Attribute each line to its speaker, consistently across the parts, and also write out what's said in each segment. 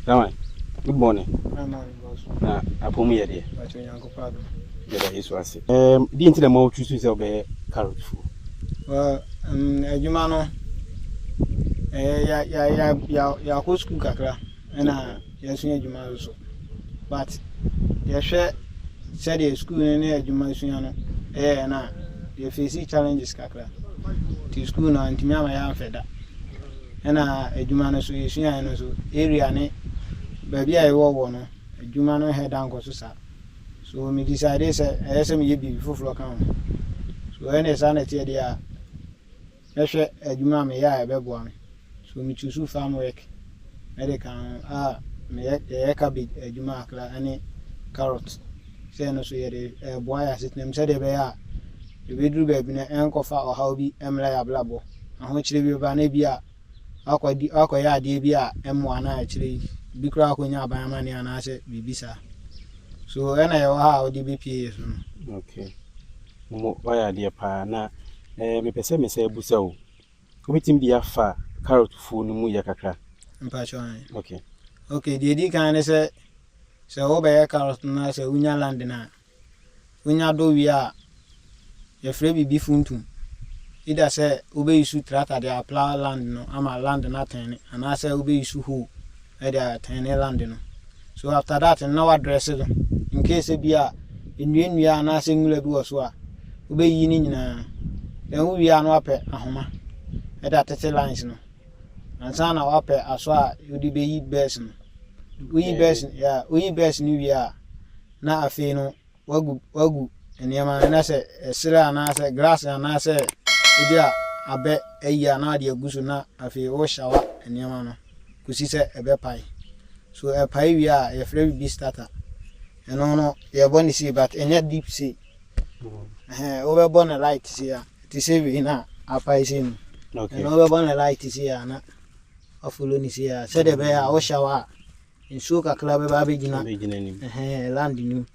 Speaker 1: Dama me bɔne
Speaker 2: na apɔ mu yɛ
Speaker 1: deɛ.
Speaker 2: Yɛda Yesu ase.
Speaker 1: Um, di nti na ma wotu so sɛ wobɛyɛ carrot fuo. Well, um,
Speaker 2: adwuma no eh, ya ya ya ya yɛakɔ sukuu kakra ɛna yɛasua adwuma no so but yɛhwɛ sɛdeɛ sukuu no ne adwuma sua no ɛyɛ no a yɛfɛsi challenges kakra nti sukuu no antumi ama yɛamfɛ da Ɛna adwuma no so yɛsuaeɛ no nso area ne baabi a yɛwɔ wɔ no adwuma no nhɛ da nkɔ so saa so me decide sɛ ɛyɛ sɛ meyɛ biribi foforɔ ka ho so ɛne saa na ɛteɛ deɛ a mɛhwɛ adwuma a meyɛ a ɛbɛboa me so me choose farm work mɛde ka ho a meyɛ yɛyɛ cabbage adwuma akra ɛne carrot sɛ ɛno so yɛde ɛboa yɛ asetenam sɛdeɛ ɛbɛyɛ a ɛbɛduru baabi no ɛnkɔfa ɔhaw bi mmra yɛ abrabɔ ahokyere bi ba na ebi a wakɔdi wakɔyɛ adeɛ bi a ɛmmoa na akyire yi ebi koraa akɔnya aban amanneɛ anaasɛ biribi saa so ɛna yɛwɔ ha a wode bɛpie yɛ so no okay
Speaker 1: mo wayɛ adeɛ paa na eh, mepɛ sɛ mesɛ abusa o wobɛtumi de afa carrot fuo no mu yɛ kakra mpakyɛ
Speaker 2: okay okay
Speaker 1: deɛ ɛdi
Speaker 2: kan ne sɛ sɛ wobɛyɛ carrot no a sɛ wonya land no a Wonya do wie a, yɛfrɛ biribi funtum. Either sɛ wobeyusu tractor de aplough land no ama land no atɛne anaasɛ wobeyusu hoe de atɛne land no. So after that no na wɔadrɛse do. Incase sɛ bi a nnuannua anaasɛ nwura bi wɔ so a, wobeyiyi ne nyinaa. Then wowie a na wɔapɛ ahoma de atete lines no. Ansa na wɔapɛ asɔ a wode beyi bɛs no. Woyi bɛs, yeah, woyi bɛs no wie a, na afei no wagu wagu nneɛma no na sɛ ɛserɛ anaasɛ glass anaasɛ ebi a abɛ ayi a na wade agu so na afei wohyawa nneɛma no kɔsi sɛ ɛbɛpae so ɛpae wie a yɛfrɛ biribi starter ɛno no yɛbɔ ne sei but ɛnyɛ deep sei ɛhɛn wobɛbɔ ne light sei a te sɛ wei na apae sei no ɛno wobɛbɔ ne
Speaker 1: light
Speaker 2: sei a na afolo ne sei a sɛdeɛ ɛbɛyɛ a wohyawa a nsuo kakra bɛba abɛgyina abɛgyina nim ɛhɛn land nim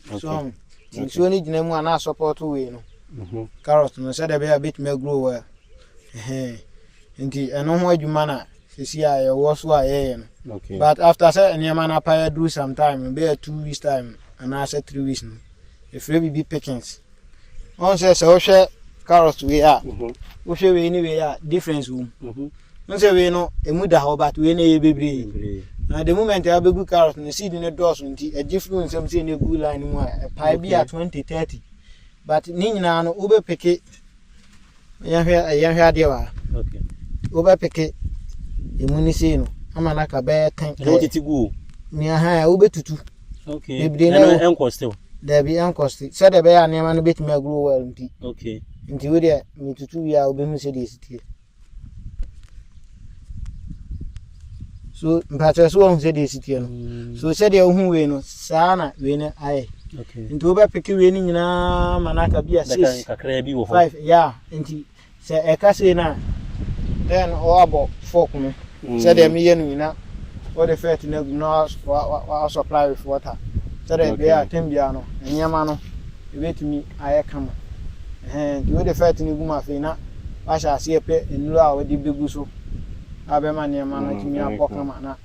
Speaker 2: okay. so um, ti nsuo no gyina mu a na support wei no mm -hmm. carrot no sɛdeɛ ɛbɛyɛ a bɛtumi agrow well ɛhɛn nti ɛno ho adwuma na sisi a yɛwɔ so a yɛyɛ no okay. but after sɛ
Speaker 1: nneɛma
Speaker 2: no apa yɛduru sometime bɛyɛ two weeks time anaasɛ three weeks no ɛfrɛ biribi pickings ɔn sɛ sɛ wohwɛ carrot wei a mhm. wohwɛ wei ne wei a difference wom mhm. ɔn sɛ wei no ɛmu da hɔ but wei no ɛyɛ bebree na the moment a wobɛgu carrot no seed no dɔɔso nti ɛgye firi nsɛm sɛ ne gu line mu a ɛpae bi a 20 30 but ne nyinaa no wobɛpeke Yɛnhwɛ yɛnhwɛ adeɛ wa. Okay.
Speaker 1: Wobɛpeke
Speaker 2: emu ne sei no ama no aka bɛyɛ tan. Ɛna wotete gu o.
Speaker 1: Nea ha
Speaker 2: wobɛtutu. Okay. Bebree na
Speaker 1: ɛno ɛnkɔ still. Daabi ɛnkɔ still.
Speaker 2: Sɛdeɛ ɛbɛyɛ a nneɛma no bɛtumi agro well nti. Okay. Nti
Speaker 1: wodeɛ
Speaker 2: metutu wie a wobɛhu sɛdeɛ ɛsiteɛ. so mpakyɛ so wɔn sɛdeɛ esi teɛ no mm. so sɛdeɛ ohun wei no saa na wei no ayɛ nti wobɛpeke
Speaker 1: wei
Speaker 2: no nyinaa ma no aka bi a six five
Speaker 1: ya nti
Speaker 2: sɛ ɛka sei no a then ɔabɔ fork no mm. sɛdeɛ meyɛ no nyina wode fɛt no agum na waasupply with water sɛdeɛ ɛbɛyɛ a tam biara no nneɛma no ɛbɛtumi ayɛ kama Ɛhɛn, ntsi wode fɛɛt no gu mu afei na wɔahyɛ ase repɛ nnuru a wɔde begu so a ɔbɛma nneɛma no atumi abɔ kama na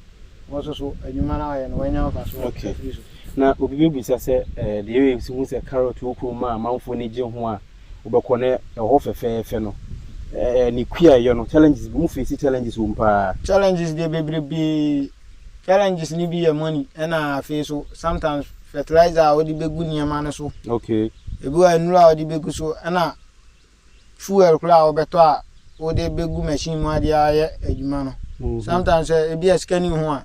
Speaker 2: hɔn so so edwuma no a wɔyɛ no woenya mfaso afir so. Na
Speaker 1: obi bebisa sɛ, Deɛ yɛyɛ nso hu sɛ carrot wɔ kurom a amanfoɔ ani gye ho a wobɛkɔ na ɛwɔ hɔ fɛfɛɛfɛ no, ne kua a ɛyɛ no, challenges, mo face challenges wɔ mu paa? Challenges deɛ
Speaker 2: bebrebee, Challenges no bi yɛ money ɛna afei so sometimes fertilizer a wɔde bɛgu nneɛma no so. Okay. Ebi wɔ
Speaker 1: nnuro a wɔde
Speaker 2: bɛgu so ɛna fuel koraa a wɔbɛtɔ a wode bɛgu machine mu adeɛ ayɛ adwuma no. Mhm. Sometimes eh, ebi a sika ni ho a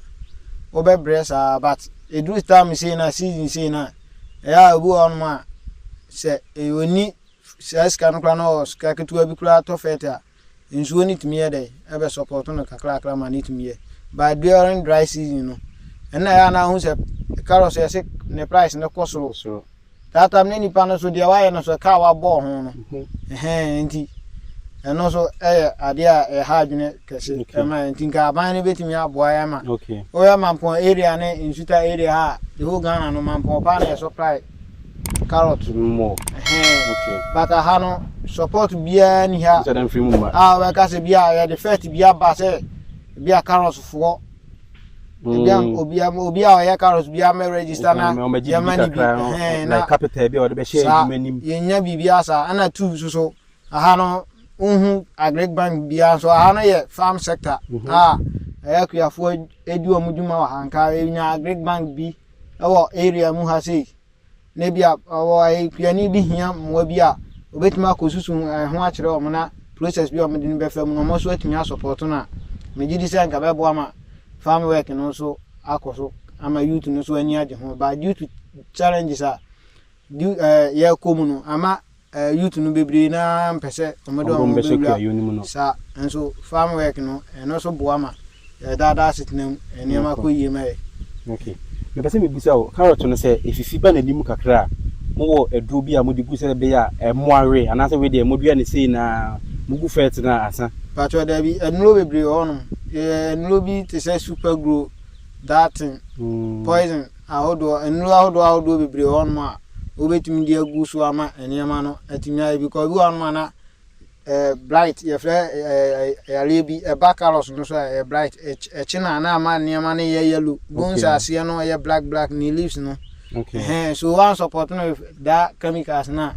Speaker 2: wobɛbrɛ saa but ɛduru time sei na season sei na ɛyɛ a ebi wɔ hɔnom a sɛ eh, ɔni saa sika no koraa na ɔwɔ sika ketewa bi koraa tɔ fɛt a Nsuo no tumi yɛ dɛn ɛbɛ support no kakrakra ma no tumi yɛ but during dry season no ɛna ɛyɛ anaa ho sɛ carrots yɛ se ne price no kɔ soro soro that time ne nipa no so deɛ wayɛ no so kaa wabɔɔ ho no ɛhɛn nti ɛno so ɛyɛ adeɛ a ɛha adwene kɛse ɛma yɛ nti nka aban no bɛtumi aboa yɛ ma woyɛ mampɔn
Speaker 1: area
Speaker 2: ne nsuta area ha the whole Ghana no mampɔn paa na yɛ supply Carrot no mu o. Okay. But aha no support biara ni ha. Sɛ dɛn firi mu mma. Ah, wɔbɛka
Speaker 1: sɛ bi
Speaker 2: a yɛde fɛt bi
Speaker 1: aba
Speaker 2: sɛ bi a carrot foɔ. Ebi a mm. obi a obi a ɔyɛ carrot bi ama register na yɛma ne bi. Ɛhɛn na capital
Speaker 1: bi a wɔde bɛhyɛ adwuma nim. Yɛnya biribi asa
Speaker 2: ɛna two soso. Aha no wohu agric bank biara nso aha no yɛ farm sector mhm. a ɛyɛ akuafoɔ edi wɔn dwuma wɔ ha nka enya agric bank bi ɛwɔ area mu ha sei na ebi a ɔwɔ akuani bi hia mmoa bi a obetumi akɔ susu ɛho akyerɛ wɔn na process bi a wɔn de no bɛfa mu na wɔn nso atumi asɔpɔtɔ no a megye di sɛ nka bɛboa ma farm work no nso akɔ so ama youth no nso ani agye ho ba due to challenges a du ɛɛ yɛkɔ mu no ama Eh youth no bebree no ara mpɛ sɛ wɔn de wɔn ho bɛwura saa nso farm work no ɛno nso boa ma yɛdaadaa asetena mu nneɛma kɔ yie ma yɛ. Okay.
Speaker 1: Mepɛ sɛ mebisa o, carrot no sɛ efifi ba n'ani mu kakra a, mowɔ aduro bi a mode gu sɛ ɛbɛyɛ a ɛmmoa we anaasɛ we deɛ modua no sei na mogu fɛɛte no ansa? Patrɔ daabi, nnuro
Speaker 2: bebree wɔ hɔnom. Yɛyɛ nnuro bi te sɛ super grow, that thing, mm. poison. ahodoɔ, nnuro ahodoɔ ahodoɔ bebree wɔ hɔnom a wobɛtumi de agu so ama nneɛma no atumi ayɛ because ebi wɔ hɔnom a na ɛɛ blight yɛfrɛ ɛɛ yareɛ bi ɛba carrots no so a ɛyɛ blight ɛkye na na ama nneɛma no yɛ yellow bones okay. aseɛ no ɛyɛ black black ne leaves no okay. ɛhɛn so wɔn support no da chemicals na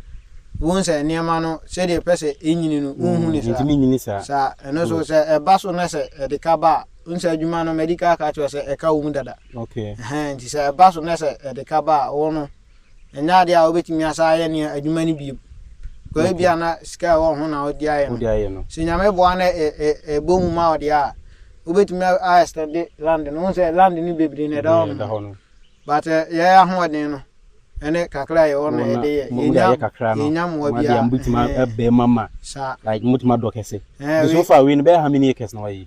Speaker 2: wɔn sɛ nneɛma no sɛdeɛ pɛ sɛ ɛnyini no wɔn hu ne saa saa
Speaker 1: ɛno so sɛ
Speaker 2: ɛba so na sɛ ɛde ka ba a. Wohu sɛ adwuma no madi ka aka kyerɛ sɛ ɛka wo mu dada. Okay. Ɛhɛn nti
Speaker 1: sɛ ɛba so
Speaker 2: na sɛ ɛde ka ba a wo no ɛnyɛ adeɛ a wobɛtumi asa ayɛ ne adwuma no bio. Kɔyɛ bi a na sika ɛwɔ ho na wode ayɛ no. Wode ayɛ no. Sɛ nyame boa na ɛbɔ mu ma ɔde a wobɛtumi a extend land no. Wohu sɛ land no bebree na ɛda hɔ no. But yɛ ahoɔden no ɛne kakra a yɛwɔ no yɛde yɛ. Yɛnya mmoa bi a. Yɛnya mmoa bi a.
Speaker 1: Saa. Like motumi adɔ kɛse. So far wei no bɛyɛ how many acres na wayɛ yi?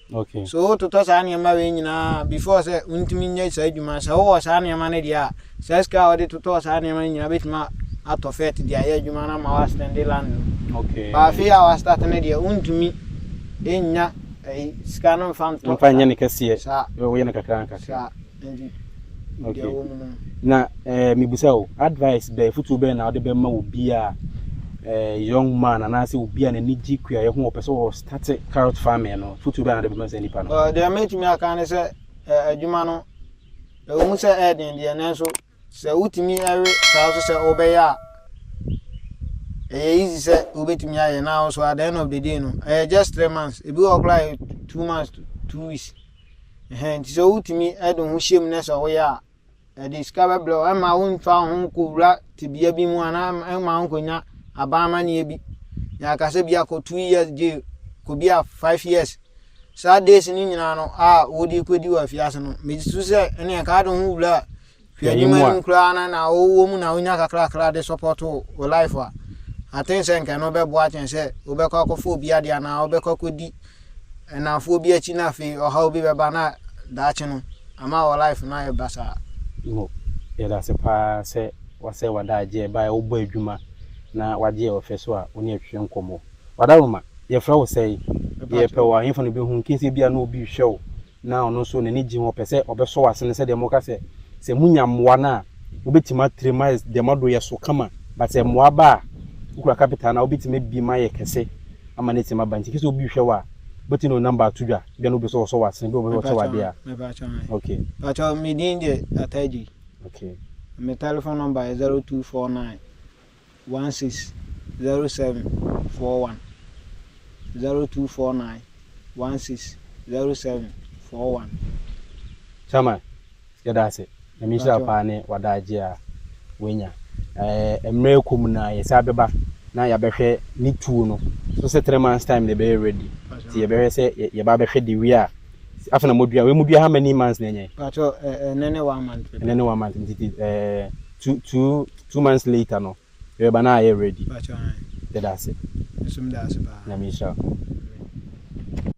Speaker 2: Okay. So
Speaker 1: wototɔ saa nneɛma
Speaker 2: wei nyinaa before sɛ wontumi nyɛ saa adwuma. Sɛ wowɔ saa nneɛma no deɛ a, saa sika a wɔde totɔɔ saa nneɛma no nyinaa bɛtumi atɔ fɛt de ayɛ adwuma no ama woastɛnde land no. Okay. Ba afei
Speaker 1: a woastate
Speaker 2: no deɛ, wontumi nnya ɛyi sika no mfa ntɔ. Mfa nyɛ ne kɛseɛ.
Speaker 1: Saa. Woyɛ no kakra
Speaker 2: nkakra.
Speaker 1: Saa. Na eh, mebisa o, advice bɛn, afotuo bɛn na wode bɛma obi a eh, young man anaasɛ obi a n'ani gye kuayɛ ho ɔpɛ sɛ ɔstate carrot farming no, afotuo bɛn na wode bɛma saa nipa no? Uh, deɛ mɛtumi aka ne sɛ
Speaker 2: uh, adwuma no ɛwɔ mu sɛ ɛden deɛ nanso sɛ wotumi ɛwe saa so sɛ wobɛyɛ a ɛyɛ easy sɛ wobɛtumi ayɛ na also at the end of the day no ɛyɛ just three months ebi wɔ koraa yɛ two months two weeks Ɛhɛn, ntsi sɛ wotumi de ho hyɛ mu na sɛ woyɛ a, ɛde sika bɛbrɛ wo, ɛmma wonfa wo ho nkowura tebea bi mu anaa ɛmma wo nkonya aban amanneɛ bi. Na aka sɛ bi akɔ two years jail, kɔ bi a five years. Saa days no nyinaa no a wode kɔdi wɔ afiase no, megye so sɛ ɛne ɛka ade ho wura a, Hwɛ enyim enyim koraa no na ɔwɔ mu na wonya kakrakra de sɔpɔto wo life a, aten sɛ nka ɛno bɛboa kyɛn sɛ wobɛkɔ akɔfa obi ade anaa wobɛkɔ akɔdi nnamfoɔ bi akyi na afei ɔhaw bi bɛba na daakye no ama wɔ life no ayɛ basaa. Mo,
Speaker 1: yɛda ase paa sɛ woasɛe w'adagyeɛ ɛberɛ a wobɔ adwuma na wagye yɛn ɔfɛ so a wo ne yɛn twetwe nkɔmmɔ. Wadaroma, yɛfrɛ wo sɛn? Yɛpɛ wo a, ɛhefa na wobɛhu wo? Nkensie biara na obi rehwɛ wo. na ɔno nso n'ani gye ho, ɔpɛ sɛ ɔbɛsɔ w'asene sɛdeɛ moka sɛ, sɛ monya mmoa no a, mobɛtumi atrɛ mu ayɛ deɛ moado yɛ so kama, but sɛ mmoa ba a, wokura capital no a, wobɛtumi abi mu ayɛ kɛse ama no atumi aba, nti kese obi rehwɛ wo a, wobɛtumi de wo number ato dwa, ebia na wopɛ sɛ ɔsɔ w'asene, ebia wopɛ sɛ ɔkyɛ wo adeɛ a. Mepaatwɔ me. Okay. Paatwɔ me din
Speaker 2: de Atah Adjei. Okay.
Speaker 1: Me telephone
Speaker 2: number yɛ zero two four nine. 160741 0249 160741.
Speaker 1: Chairman, yɛda ase. Nyame nhyira wo paa ne w'adagye a w'anya. Ɛɛ mmerɛ ɛkɔ mu no a yɛsan bɛba na yɛabɛhwɛ ne tuo no. So sɛ three months time na ɛbɛyɛ ready? Nti yɛbɛhwɛ sɛ yɛba abɛhwɛ de wie a, afei na modua. Wei modua how many months na ɛnyɛe? Paatwɔ, ɛɛ
Speaker 2: ɛnɛ ne one month. Ɛnɛ ne one month nti
Speaker 1: ɛɛ. Two two two months later no yɛreba na ayɛ ready. Yɛda ase. Nyame
Speaker 2: nhyira wo.